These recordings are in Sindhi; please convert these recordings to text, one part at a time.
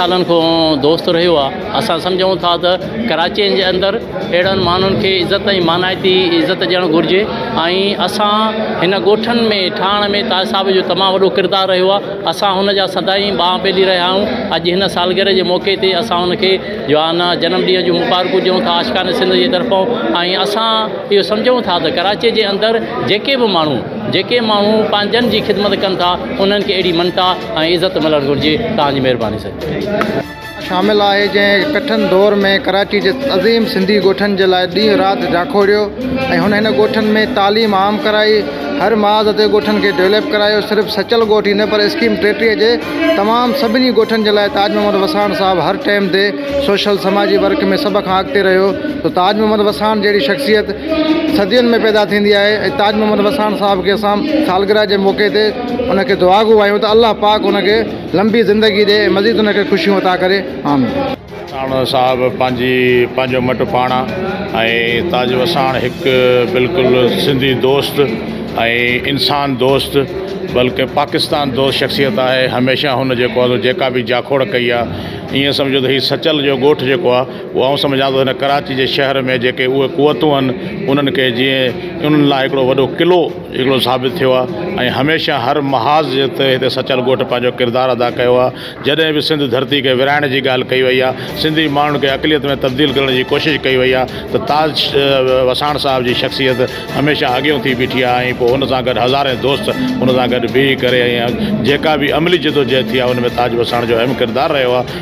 سالن کان دوست رهيو آ اسان سمجهون ٿا ته ڪراچين جي اندر اهڙن ماڻهن کي عزت ۽ مانائتي عزت ڏيڻ گهرجي ۽ اسان هن ڳوٺن ۾ ٺاهڻ ۾ تاج صاحب جو تمام وڏو ڪردار رهيو آ اسان هن جا سدائين ٻانهن پيلي رهيا آهيون اڄ هن سالگرهه جي موقعي تي اسان هن کي جوانا جنم ڏينهن جون مبارڪون ڏيون ٿا عاشقان سنڌ جي طرفون ۽ اسان اهو سمجهون ٿا ته ڪراچي جي اندر جيڪي به ماڻهو جيڪي ماڻهو پنهنجن جي خدمت ڪن ٿا انهن کي اهڙي مڃتا ۽ عزت ملڻ گهرجي توهان جي مهرباني سڄڻ. شامل آهي جنهن ڪٺن دور ۾ ڪراچي جي عظيم سنڌي ڳوٺن جي لاء ڏينهن رات جاکوڙيو ۽ هن هن ڳوٺن ۾ تعليم عام ڪرائي هر محاذ تي ڳوٺن کي ڊولپ ڪرايو صرف سچل ڳوٺ ئي نه پر اسڪيم ٽيٽيهه جي تمام سڀني ڳوٺن جي لاء تاج محمد وساڻ صاحب هر ٽئم تي سوشل سماجي ورڪ ۾ سڀ کان اڳتي رهيو ته تاج محمد وساڻ جهڙي شخصيت صدين ۾ پيدا ٿيندي آهي ۽ تاج محمد وساڻ صاحب کي اسان سالگرهه جي موقعي تي ان کي دعا گو آهيون ته الله پاڪ ان کي لنبي زندگي ڏي ۽ مزيد ان کي خوشيون عطا ڪري آمين. وساڻ صاحب پنهنجي پنهنجو مٽ پاڻ ۽ تاج وساڻ هڪ بلڪل سنڌي دوست ۽ انسان دوست بلڪه پاڪستان دوست شخصيت آهي هميشه هن جيڪو جيڪا به جاکوڙ ڪئي آهي ايئن سمجهو ته هي سچل جو ڳوٺ جيڪو آهي اهو آئون سمجهان ٿو هن ڪراچي جي شهر ۾ جيڪي اهي قوتون آهن انهن کي جيئن انهن لاء هڪڙو وڏو قلعو هڪڙو ثابت ٿيو آهي ۽ هميشه هر محاذ جي تي هتي سچل ڳوٺ پنهنجو ڪردار ادا ڪيو آهي جڏهن به سنڌ ڌرتي کي ورهائڻ جي ڳالهه ڪئي وئي آهي سنڌي ماڻهن کي اقليت ۾ تبديل ڪرڻ جي ڪوشش ڪئي وئي آهي ته تاج وساڻ صاحب جي شخصيت هميشه اڳيئون ٿي بيٺي آهي ۽ پوء ان سان گڏ هزارين دوست ان سان گڏ بيهي ڪري ۽ جيڪا به عملي جدوجهد ٿي آهي ان ۾ تاج وساڻ جو اهم ڪردار رهيو آهي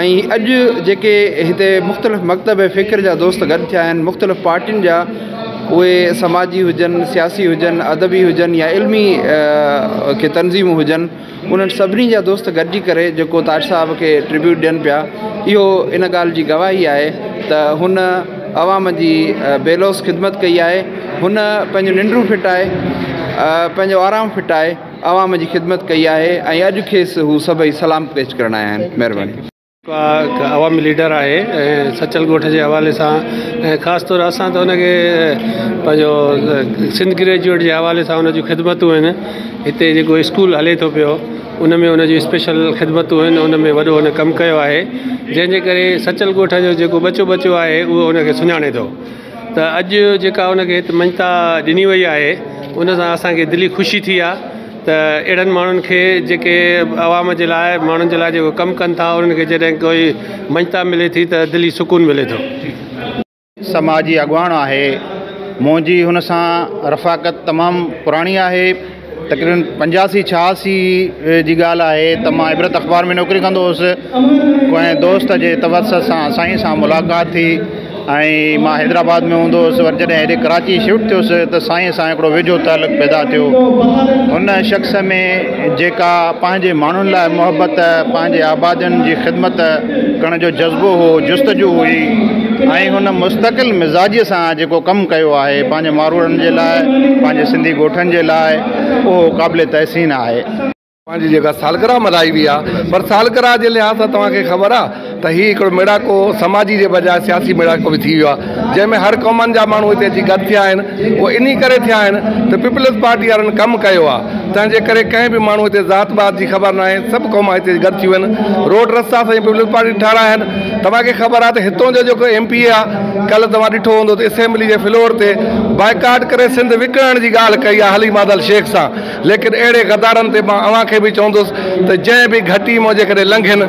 ۽ اڄ جيڪي هتي مختلف مڪتب فڪر جا دوست گڏ ٿيا آهن مختلف پارٽين جا اهي سماجي هجن سياسي هجن ادبي هجن يا علمي ڪي تنظيمون هجن انهن سڀني جا دوست گڏجي ڪري جيڪو تاج صاحب کي ٽربيوٽ ڏين پيا اهو ان ڳالهه جي گواهي آهي ته هن عوام جي بيلوس خدمت ڪئي آهي هن پنهنجو ننڊون ڦٽائي پنهنجو آرام ڦٽائي عوام جي خدمت ڪئي آهي ۽ اڄ کيس هو سڀئي سلام پيش ڪرڻ آيا آهن. مهرباني. هڪ عوامي ليڊر آهي ۽ سچل ڳوٺ جي حوالي سان ۽ خاص طور اسان ته ان کي پنهنجو سنڌ گريجوئيٽ جي حوالي سان ان جون خدمتون آهن هتي جيڪو اسڪول هلي ٿو پيو ان ۾ ان جون اسپيشل خدمتون آهن ان ۾ وڏو هن ڪم ڪيو آهي جنهن جي ڪري سچل ڳوٺ جو جيڪو ٻچو ٻچو آهي اهو ان کي سڃاڻي ٿو ته اڄ جيڪا ان کي هت مڃتا ڏني وئي آهي ان سان اسان کي دلي خوشي ٿي آ ته اهڙن ماڻهن کي جيڪي عوام جي لاء ماڻهن جي لاء جيڪو ڪم ڪن ٿا انهن کي جڏهن ڪوئي مڃتا ملي ٿي ته دلي سڪون ملي ٿو. سماجي اڳواڻ آهي منهنجي هن سان رفاقت تمام پراڻي آهي. تقريبن پنجاسي ڇهاسي جي ڳالهه آهي ته مان عبرت اخبار ۾ نوڪري ڪندو هوسي ڪنهن دوست جي توسط سان سائين سان ملاقات ٿي ۽ مان حيدرآباد ۾ هوندو هوسي وري جڏهن هيڏي ڪراچي شفٽ ٿيو هوسي ته سائين سان هڪڙو ويجهو تعلق پيدا ٿيو هن شخص ۾ جيڪا پنهنجي ماڻهن لاء محبت پنهنجي آبادين جي خدمت ڪرڻ جو جذبو هو، جستجو هئي ۽ هن مستقل مزاجيء سان جيڪو ڪم ڪيو آهي پنهنجي ماروئڙن جي لاء، پنهنجي سنڌي ڳوٺن جي لاء، اهو قابل تحسين آهي. اوهان جي جيڪا سالگرهه ملهائي وئي آهي، پر سالگرهه جي لحاظ سان توهان کي خبر آهي ته هي هڪڙو ميڙاڪو سماجي جي بجاء سياسي ميڙاڪو به ٿي ويو آهي. جنهن ۾ هر قومن جا ماڻهو هتي اچي گڏ ٿيا آهن اهو انهي ڪري ٿيا آهن ته پيپلز پارٽي وارن ڪم ڪيو آهي تنهن جي ڪري ڪنهن به ماڻهو هتي ذات بات جي خبر ناهي سڀ قوما هتي اچي گڏ ٿيون آهن روڊ رستا سائين پيپلز پارٽي ٺارايا آهن توهان کي خبر آهي ته هتون جو جيڪو ايم پي اي آهي ڪل توهان ڏٺو هوندو ته اسيمبلي جي فلور تي بائيڪاٽ ڪري سنڌ وڪڻڻ جي ڳالهه ڪئي آهي علي مادل شيخ سان ليڪن اهڙي غدارن تي مان اوهان کي به چوندس ته جنهن به گهٽي مان جيڪڏهن لنگهين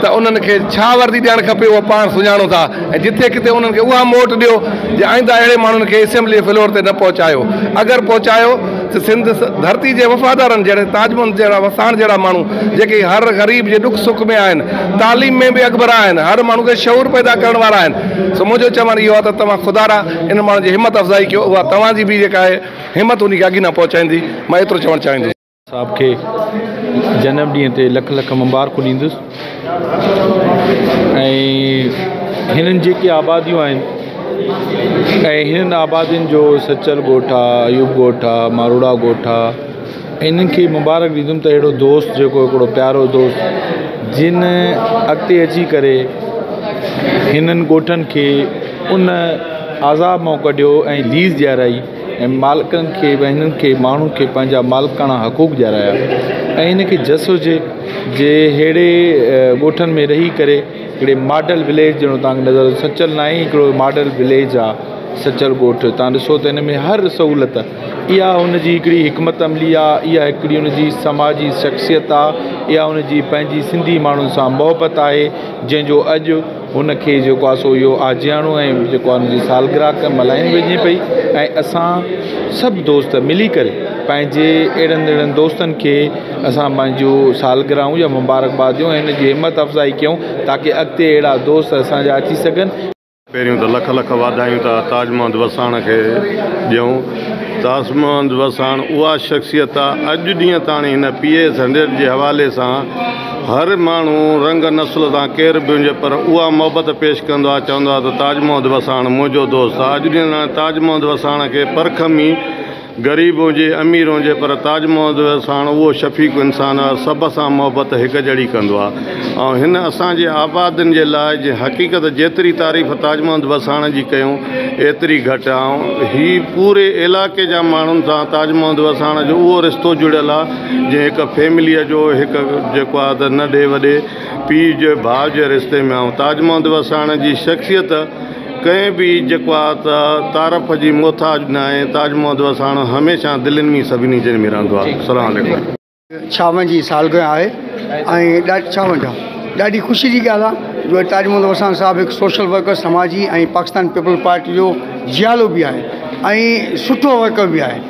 ته انهن کي ڇا وردي ڏيڻ کپي اهو پاڻ سڃاڻو ٿا ۽ جتي ڪٿي انهن کي اها موٽ ڏيو جي آئنده اهڙي ماڻهن کي اسيمبليء فلور تي نه پهچايو اگر پهچايو ته سنڌ ڌرتي جي وفادارن جهڙي تاج محمد جهڙا وساڻ جهڙا ماڻهو جيڪي هر غريب جي ڏک سک ۾ آهن تعليم ۾ به اڳڀرا آهن هر ماڻهو کي شعور پيدا ڪرڻ وارا آهن سو منهنجو چوڻ اهو آهي ته توهان خدارا انهن ماڻهن جي همت افزائي ڪيو اها توهان جي به جيڪا آهي همت انهي کي اڳي نه پهچائيندي، مان ايترو چوڻ چاهيندس. صاحب کي جنم ڏينهن تي لک لک مبارڪون ڏيندس ۽ هنن جيڪي آباديون آهن ۽ هنن آبادين جو سچل ڳوٺ آ ايوب ڳوٺ آ ماروڙا ڳوٺ آ انهن کي مبارڪ ڏيندم ته اهڙو دوست جيڪو هڪڙو پيارو دوست جن اڳتي اچي ڪري هنن ڳوٺن کي ان عذاب مئو ڪڍيو ۽ ليز ڏيارائي ۽ مالڪن کي به هنن کي ماڻهن کي پنهنجا مالڪاڻا حقوق ڏيارايا ۽ هن کي جس هجي جي ههڙي ڳوٺن ۾ رهي ڪري هڪڙي ماڊل وليج جهڙو توهان کي نظر سچل ناهي هڪڙو ماڊل وليج آ سچل ڳوٺ توهان ڏسو ته هن ۾ هر سهولت اها هن جي هڪڙي حڪمت عملي آ اها هڪڙي هن جي سماجي شخصيت آ اها هن جي پنهنجي سنڌي ماڻهن سان محبت آهي جنهن جو اڄ هن کي جيڪو آهي سو اهو آجياڻو ۽ جيڪو آهي ان جي سالگرهه ملهائي وڃي پئي ۽ اسان سڀ دوست ملي ڪري پنهنجي اهڙن اهڙن دوستن کي اسان پنهنجو سالگرهه يا مبارڪ باد ڏيون ۽ ان جي همٿ افزائي ڪيون تاڪي اڳتي اهڙا دوست اسان جا اچي سگهن. پهريون ته لک لک واڌايون ٿا تاج محمد وساڻ کي ڏيون. تاج محمد وساڻ اها شخصيت آهي اڄ ڏينهن تاڻي هن پي اي ايس هنڊريڊ جي حوالي سان هر ماڻهو رنگ نسل تان ڪير به هجي پر اها محبت پيش ڪندو آهي چوندو آهي ته تاج محمد وساڻ منهنجو دوست آهي اڄ ڏينهن تائين تاج محمد وساڻ کي پر کمي غريب هجي امير هجي پر تاج محمد وساڻ اهو شفيق انسان آهي سڀ سان محبت هڪ جهڙي ڪندو آهي ۽ هن اسان جي آبادين جي لاء جنهن حقيقت جيتري تعريف تاج محمد وساڻ جي ڪيون ايتري گهٽ آهي ۽ هي پوري علائقي جا ماڻهن سان تاج محمد وساڻ جو اهو رشتو جڙيل آهي جنهن هڪ فيمليء جو هڪ جيڪو آهي ته ننڍي وڏي پيء جي ڀاء جي رشتي ۾ آئون تاج محمد وساڻ جي شخصيت ڪنهن به جيڪو آهي ته تعارف جي محتاج نه آهي تاج محمد وساڻ هميشه دلين ۾ سڀني جن ۾ رهندو آهي السلام عليڪم. ڇاونهن جي سالگرهه آهي ۽ ڏاڍي ڇاونهن جا ڏاڍي خوشي جي ڳالهه آهي جو تاج محمد وساڻ صاحب هڪ سوشل ورڪر سماجي ۽ پاڪستان پيپلز پارٽي جو جيالو به آهي ۽ سٺو ورڪر به آهي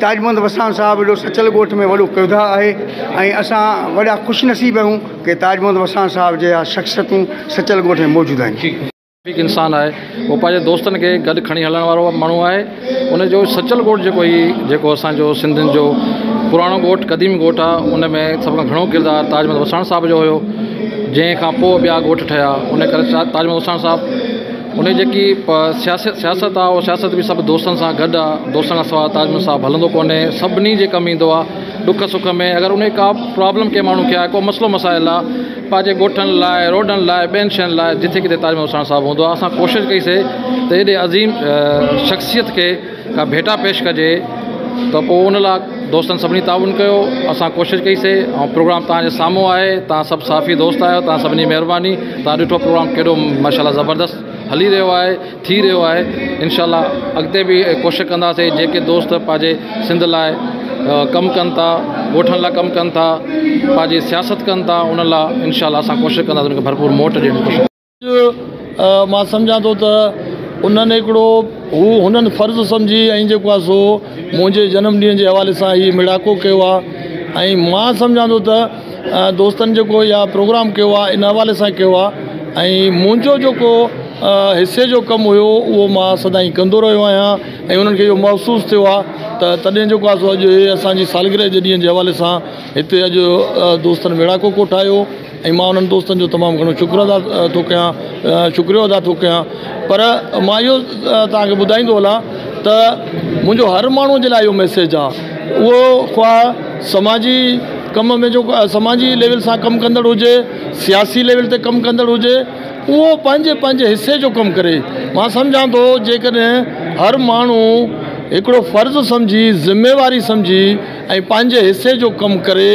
تاج محمد وساڻ صاحب ايڏو سچل ڳوٺ ۾ وڏو ڪردار آهي ۽ اسان وڏا خوش نصيب آهيون ڪي تاج محمد وساڻ صاحب جهڙا شخصيتون سچل ڳوٺ ۾ موجود آهن. ٺيڪ انسان آهي هو پنهنجي دوستن کي گڏ کڻي هلڻ وارو ماڻهو آهي ان جو سچل ڳوٺ جيڪو هي جيڪو اسان جو سنڌين جو پراڻو ڳوٺ قديم ڳوٺ آ ان ۾ سڀ کان گهڻو ڪردار تاج محمد وساڻ صاحب جو هيو جنهن کان پوء ٻيا ڳوٺ ٺهيا ان ڪري تاج محمد وساڻ صاحب ان جي جيڪي سياست سياست آهي اها سياست به سڀ دوستن سان گڏ آهي دوستن کان سواء تاج محمد صاحب هلندو ڪونهي سڀني جي ڪم ايندو آهي ڏک سک ۾ اگر ان ڪا پرابلم ڪنهن ماڻهو کي آهي ڪو مسئلو مسائل آهي پنهنجي ڳوٺن لاء روڊن لاء ٻين شين لاء جٿي ڪٿي تاج محمد ساڻس صاحب هوندو آهي اسان ڪوشش ڪئي سي ته هيڏي عظيم شخصيت کي ڪا ڀيٽا پيش ڪجي ته پوء ان لاء دوستن سڀني تعاون ڪيو اسان ڪوشش ڪئي سي ۽ پروگرام توهان جي سامهون آهي توهان سڀ صحافي دوست آهيو توهان سڀني جي مهرباني توهان ڏٺو پروگرام ڪيڏو ماشاء الله زبردست هلي رهيو آهي ٿي رهيو آهي انشاء الله اڳتي به ڪوشش ڪنداسي جيڪي دوست پنهنجي سنڌ لاء ڪم ڪن ٿا ڳوٺن لاء ڪم ڪن ٿا پنهنجي سياست ڪن ٿا ان لاء انشاء الله اسان ڪوشش ڪنداسي ان کي ڀرپور موٽ ڏيڻ جي اڄ مان سمجهان ٿو ته انهن هڪڙو هو هنن فرض سمجهي ۽ جيڪو آهي سو منهنجي جنم ڏينهن جي حوالي سان هي مڙاڪو ڪيو آهي ۽ مان سمجهان ٿو ته دوستن جيڪو يا پروگرام ڪيو آهي ان حوالي سان ڪيو آهي ۽ منهنجو جيڪو حصي جو ڪم هيو اهو مان سدائين ڪندو رهيو آهيان ۽ انهن کي اهو محسوس ٿيو آهي ته تڏهن جيڪو آهي سو اڄ هي اسانجي سالگرهه جي ڏينهن جي حوالي سان هتي اڄ دوستن مڙاڪو ڪوٺايو ۽ مان انهن دوستن جو تمام گهڻو شڪر ادا ٿو ڪيان شڪريو ادا ٿو ڪيان پر مان اهو توهانکي ٻڌائيندو هلان ته منهنجو هر ماڻهو جي لاء اهو ميسيج آ اهو خواه سماجي ڪم ۾ جيڪو سماجي ليول سان ڪم ڪندڙ هجي سياسي ليول تي ڪم ڪندڙ هجي اهو پنهنجي پنهنجي حصي جو ڪم ڪري مان سمجهان ٿو جيڪڏهن هر ماڻهو هڪڙو فرض سمجهي ذميواري سمجهي ۽ پنهنجي حصي جو ڪم ڪري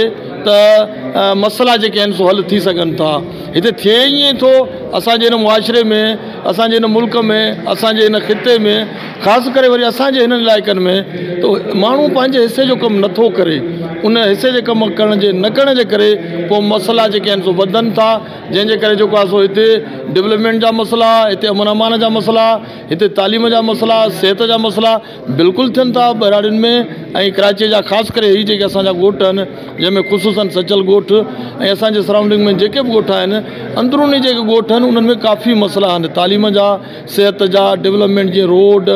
ته مسئلا جيڪي آهن سو حل ٿي سگهن ٿا هتي ٿئي ائين ٿو اسان جي هن معاشري ۾ اسان جي هن ملڪ ۾ اسان جي هن خطي ۾ خاص ڪري وري اسان جي هنن علائقن ۾ تو ماڻهو پنهنجي حصي جو ڪم نٿو ڪري ان حصي جي ڪم ڪرڻ جي نه ڪرڻ جي ڪري پو مسئلا جيڪي آهن سو وڌن ٿا جنهن جي ڪري جيڪو آهي سو هتي ڊولپمينٽ جا مسئلا هتي امن امان جا مسئلا هتي تعليم جا مسئلا صحت جا مسئلا بلڪل ٿين ٿا ٻهراڙين ۾ ۽ ڪراچيء جا خاص ڪري هي جيڪي اسان جا ڳوٺ آهن جنهن ۾ خصوصن سچل ڳوٺ ۽ اسان جي سرائونڊنگ ۾ جيڪي به ڳوٺ آهن اندروني جيڪي ڳوٺ آهن انهن ۾ ڪافي مسئلا آهن تعليم جا صحت جا ڊولپمينٽ جي روڊ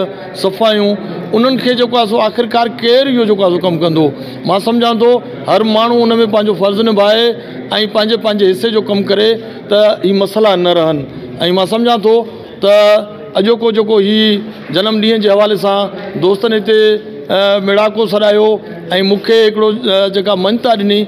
صفايون انهن کي جيڪو آهي سو آخرڪار ڪير اهو جيڪو آهي سو ڪم ڪندو مان سمجهان ٿو هر ماڻهو ان ۾ پنهنجو فرض نڀائي ۽ پنهنجي پنهنجي حصي جو ڪم ڪري ته هي مسئلا نه رهن ۽ مان سمجهان ٿو ته اڄوڪو جيڪو هي جنم ڏينهن جي حوالي سان دوستن هتي ميڙاڪو سڏايو ۽ مون کي هڪڙو جيڪا مڃتا ڏني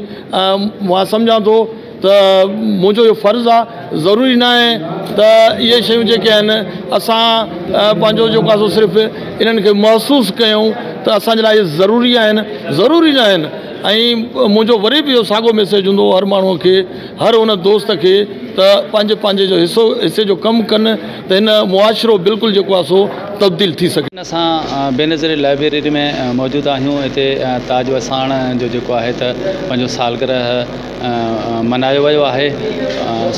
مان سمجهان ٿو ته منهنجو اهو فرض آهي ضروري نه آهي ته اهي شيون جيڪي آهن اسان پنهنجو جيڪو آهي سو صرف انهن کي محسوس ڪيون ته اسان جي لاء اهي ضروري آهن ضروري نه آهن ۽ منهنجو وري به اهو ساڳو ميسيج هوندو هر ماڻهوء کي هر ان دوست کي ته پنهنجي پنهنجي جو حصو حصي جو ڪم ڪن ته هن معاشرو بلڪل جيڪو آهي سو تبديل ٿي سگهي. هن اسان بينظير لائبريري ۾ موجود آهيون هتي تاج وساڻ جو جيڪو آهي ته پنهنجو سالگرهه منايو ويو آهي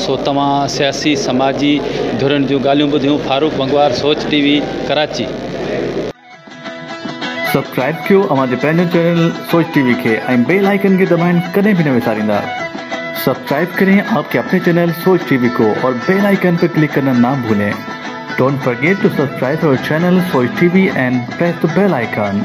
سو توهان سياسي سماجي ڌرين جون ڳالهيون ٻڌيون Farooq Bangwar Soch T V Karachi. Subscribe ڪيو اوهان جي پنهنجي چينل سوچ ٽي وي کي ۽ بيل آئيڪن کي دٻائڻ ڪڏهن به نه وساريندا سبسڪرائب ڪرين آپ ڪي اپني چينل سوچ ٽي وي ڪو اور بيل آئيڪن پي ڪلڪ ڪرنا نا ڀولين ڊونٽ فرگيٽ ٽو سبسڪرائب اور channel Soch T V and press ته بيل آئيڪن.